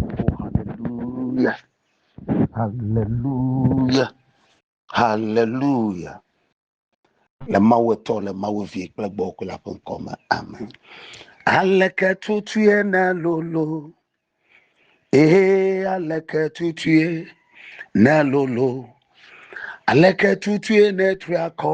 Oh, hallelujah. Hallelujah. Hallelujah. Le Mawu etɔ, le Mawu vi kple gbɔ kple la ƒe ŋkɔme. Amen. Aleke tutue na lolo. Ee, aleke tutue na lolo. Aleke tutue na triakɔ.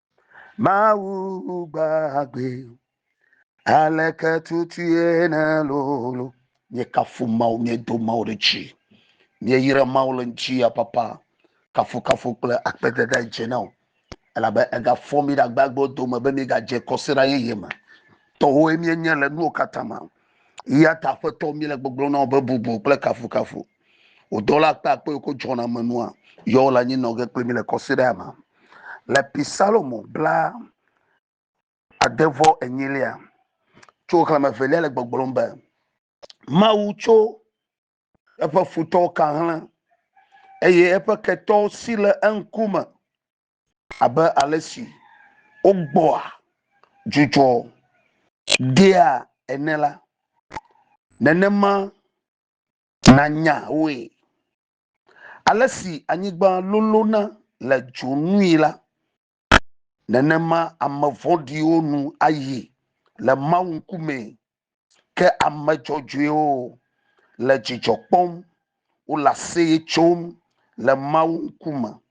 Mawu gbagbe, aleke tutue ne lolo. Míekafu Mawu, míedo Mawu ɖe dzi, míeyra Mawu le ŋuti ya papa. Kafukafu kple akpedada dze na wò, elabe ègafɔ mí ɖe agbagbewo dome be míegadze kɔsiɖa yeye me. Tɔwòe míenye le nuwo katã me. Eya ta Aƒetɔ, míele gbɔgblɔm na wò be bubu kple kafukafu Wò dɔla kpe akpe yiwo ko dzɔna me nua, yɔ wo le anyi nɔ ge kple mí le kɔsiɖa me. Le Pisalomo bla ade vɔ enyilia tso xexlẽme evelia le gbɔgblɔm be, Mawu tso eƒe futɔwo ka hlẽ, eye eƒe ketɔwo si le eŋku me abe ale si wogbɔa dzudzɔ ɖea ene la, nenema Nànya woe. Ale si anyigba lolõna le dzo nui la, nenema ame vɔ̃ɖiwo nu ayi le Mawu ŋkumee, ke ame dzɔdzɔewo le dzidzɔ kpɔm, wole aseye tsom le Mawu ŋkume.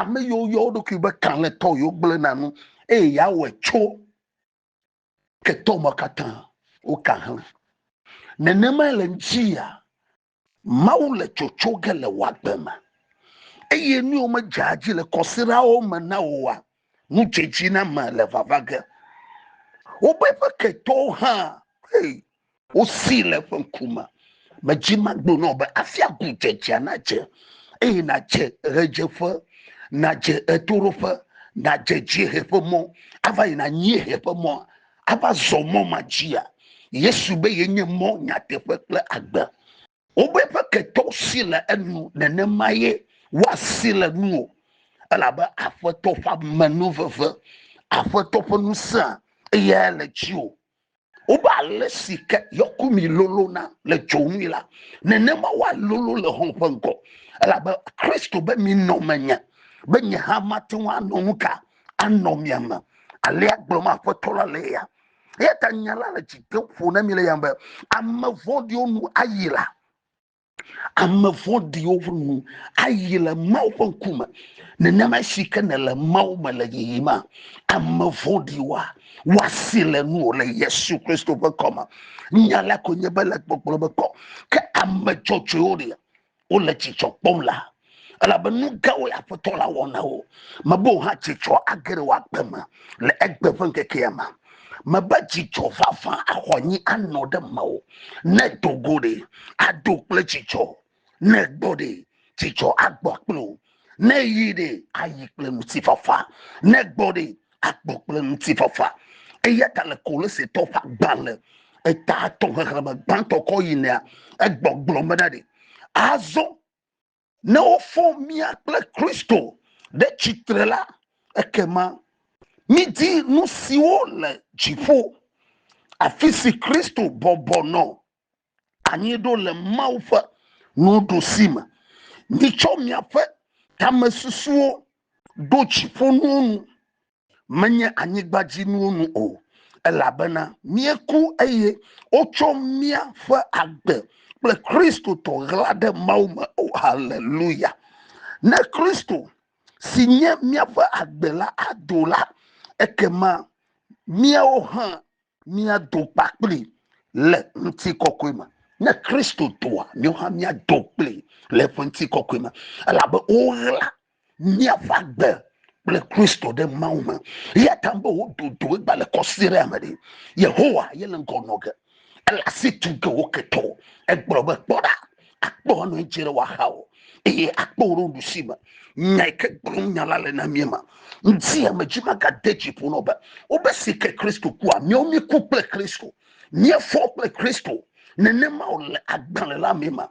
ame yiwo yɔ wo ɖokui be kalẽtɔ yiwo gblẽ na nu eye yeawɔe tso ketɔ me katã wo ka hlẽ nenema le ŋdzia mawu le tsotso ge le wò agbe me eye nu yiwo medzaa dzi le kɔsiɖawo me na wò wa nu dzedzi na me le vava ge wobe eƒe ketɔwo hã hey, Wosee le eƒe ŋkume. Medzi magblɔ na wò be hafi agu dzedzea nadze, eye nàdze ɣedzeƒe, nàdze ɣetoɖoƒe, nàdze dziehe ƒe mɔ, ava yina anyiehe ƒe mɔ, ava zɔ mɔ ma dzia. Yesu be yenye mɔ, nyateƒe kple agbe. Wobe eƒe ketɔwo si le enu nenema ye woasi le nu o, elabe Aƒetɔ ƒe amenuveve, Aƒetɔ ƒe ŋusẽa, eyae le dziwò. Wobe ale si ke yɔkumi lolona le dzonui la, nenema woalolo le xɔ̃ ƒe ŋgɔ, elabe Kristo be mi nɔ menye, be nye hã mate ŋu anɔ nu ka? Anɔ mia me. Alea gblɔm Aƒetɔ la le eya. eya ta nya la le dzite ƒo na mi le yame be ame vɔ̃ɖiwo nu ayi la ame vɔ̃ɖiwo ƒe nu ayi le mawo ƒe ŋkume nenema si ke ne le mawo me le yiyima ame vɔ̃ɖiwoa woasi le nu le yesu kristo ƒe kɔme nya la ko nye be le gbɔgblɔ me kɔ ke ame dzɔdzɔewo ɖe wole tsitsɔ kpɔm la elabe nu gawo ya ƒetɔ la wɔna wo mebe o hã tsitsɔ age ɖe woagbe me le egbe ƒe ŋkekea me mebe tsitsɔ vavã axɔ nyi anɔ ɖe mewò ne do go ɖe ado kple tsitsɔ ne gbɔ ɖe tsitsɔ agbɔ kple o ne yi ɖe ayi kple ŋutifafa ne gbɔ ɖe akpɔ kple ŋutifafa eya ta le kolesetɔ ƒe agbalẽ eta atɔ xexlẽme gbãtɔ kɔ yinea egbɔgblɔ me ɖaɖi azɔ ne wofɔ mía kple kristo ɖe tsitre la ekema midi nu siwo le dziƒo afi si kristo bɔbɔ nɔ anyi ɖo le Mawu ƒe nuɖusi me. Mitsɔ miaƒe tamesusuwo ɖo dziƒonuwo nu, menye anyigbadzinuwo nu o, elabena míeku eye wotsɔ míaƒe agbe kple Kristotɔ ɣla ɖe Mawu me o. Haleluya! Ne Kristo, si nye míaƒe agbe la, ado la, ekema míawo hã Míado gba kpli le ŋutikɔkɔe me. Ne Kristo doa, míwo hã míado kpli le eƒe ŋutikɔkɔe me, elabe woɣla míava gbe kple Kristo ɖe Mawu me. Eya ta be wododo egba le kɔsiɖea me ɖi. Yehowa ye le ŋgɔ nɔ ge, ele asi tu ge wo ketɔwo. Egblɔ be, Kpɔ ɖa, akpɔ nu dzi ɖe woaxa o eye akpɔ wo ɖe ɖusi me nya yi ke gblɔm nya la le na mie ma ŋdi ame dzi magade dzi ƒo nɔ be wobe si ke kristo kua míawo míeku kple kristo míefɔ kple kristo nenema wòle agbalẽ la me ma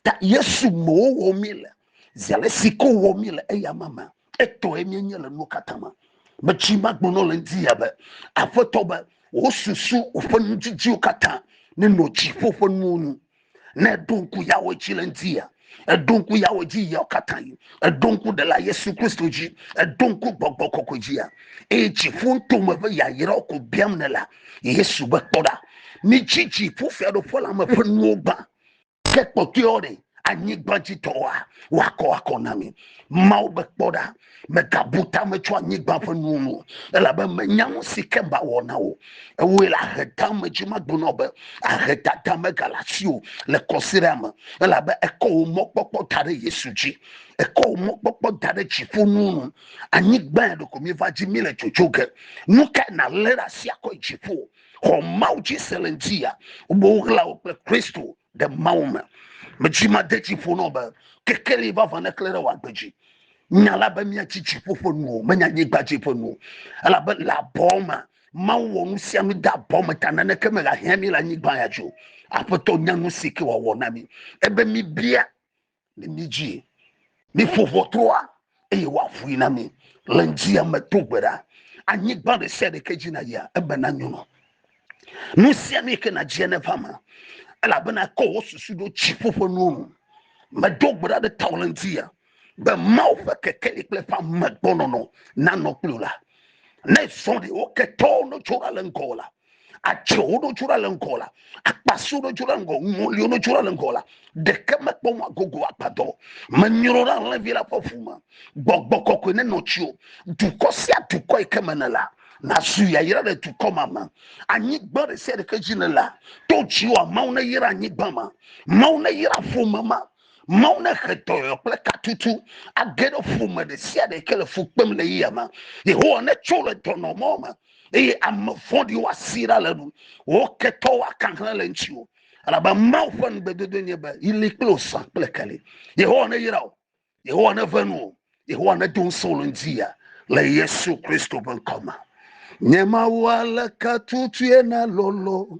ta yesu me wowɔ mí le zi ale si ke wowɔ mí le eya ma me etɔe mienye le nuwo katã me metsi magbɔnɔ le ŋdi ya be aƒetɔ be wò susu woƒe nu didiwo katã nenɔ dziƒo ƒe nuwo nu ne eɖo ŋku yawo dzi le ŋdi ya eɖo ŋku yawo dzi yawo katã yi eɖo ŋku ɖela yesu kristo dzi eɖo ŋku gbɔgbɔ kɔkɔe dzi ya eye dziƒo ŋutɔ me ƒe yayrawo ko biam ne la yesu be kpɔ ɖa midzi dziƒo fiaɖoƒe la me ƒe nuwo gbã ke kpɔtɔewo ɖe anyigba dzi tɔwoa woakɔ akɔ na mi mawo be kpɔ ɖa megabu tame tso anyigba ƒe nuwo nu elabe menya nu si ke mba wɔ na wo ewoe le ahe tame dzi magblɔ be ahe dada megale asi o le kɔsiɖa me elabe ekɔ wo mɔkpɔkpɔ da ɖe yesu dzi ekɔ wo mɔkpɔkpɔ da ɖe dziƒo nuwo nu anyigba ya ɖeko mi va dzi mi le dzodzoge nu ka nalé ɖe asi akɔ dziƒo xɔ Mawu dzi se le ŋutia, wobe woɣla wo kple Kristo ɖe Mawu me. Medzi ma de dzi ƒo nɔ be kekeli vavã neklẽ ɖe wòagbe dzi. Nya la be míatsi dziƒo ƒe nu o, menye anyigba dzi ƒe nu o, elabe le abɔ me Mawu wɔ nu sia nu de abɔ me ta naneke megahiã mí le anyigba ya dzi o. Aƒetɔ nya nu si ke wòawɔ na mí. Ebe míbia Le mi dzi, miƒo ʋɔtrua, eye woaƒoe na mi. Le ŋdia me do gbe ɖa, anyigba ɖe sia ɖe ke dzi nayia, eme nanyo nɔ. Nu sia nu yi ke nàdia neva me, elabena ekɔ wò susu ɖo dziƒo ƒe nuwo ŋu. Medo gbe ɖa ɖe tawò le ŋdia be Mawu ƒe kekeli kple eƒe amegbɔnɔnɔ nanɔ kpli wò la. Ne zɔ ɖi wò ketɔwo notso ɖa le ŋgɔwò la, atsɔ wo ɖotsɔ ɖa le ŋgɔ la akpasi wo ɖotsɔ ɖa ŋgɔ ŋɔli wo ɖotsɔ ɖa le ŋgɔ la ɖeke mekpɔ mu agogo agbadɔ menyro ɖa hlɛvi la ƒe ʋu me gbɔgbɔ kɔkɔe ne nɔtsi o dukɔ sia dukɔ yi ke me ne la nazu yayra ɖe dukɔ ma me anyigba ɖe sia ɖe ke dzi ne la to tsi wa mawu ne yra anyigba ma mawu ne yra ƒome ma mawu ne he dɔyɔyɔ kple katutu age ɖe ƒome ɖe sia ɖe ke le fu kpem le yiyama yehowa ne tso le dɔnɔmɔ me eye ame vɔ̃ɖiwo asi ɖa le nu wo ketɔwo akanhlẽ le ŋutiwo elabe mawu ƒe ŋugbedodo nye be yili kple wòsa kple keli yehowa neyra o yehowa neve nu o yehowa nedo ŋusẽ le ŋdi ya le yesu kristo ƒe ŋkɔ me nye mawu aleka tutue na lolo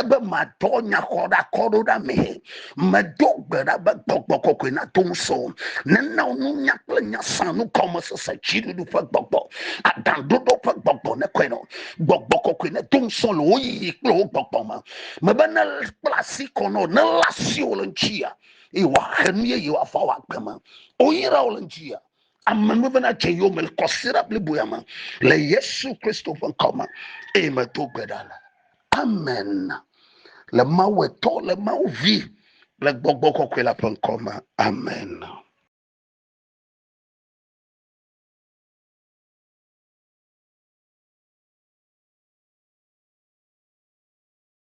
ebe madɔ nyakɔ ɖe akɔɖo ɖe ame medo gbe ɖa be gbɔgbɔ kɔkɔe na to ŋusɔ nena nunya kple nyasanu gɔmesese dziɖuɖu ƒe gbɔgbɔ aɖaŋɖoɖo ƒe gbɔgbɔ ne kɔe nɔ gbɔgbɔ kɔkɔe ne to ŋusɔ le wo yiyi kple wo gbɔgbɔ me mebe ne kpla asi kɔ nɔ ne la asi wo le ŋutia eye wòaxe nu yeye woafa wɔ agbe me oyira wo le ŋutia amenuve nadze yo me le kɔsiɖa blibo ya me le yesu kristo ƒe ŋkɔ me eye medo gbe ɖa le amen le mawu etɔ le mawu vi le gbɔgbɔ kɔkɔe la ƒe ŋkɔ me amen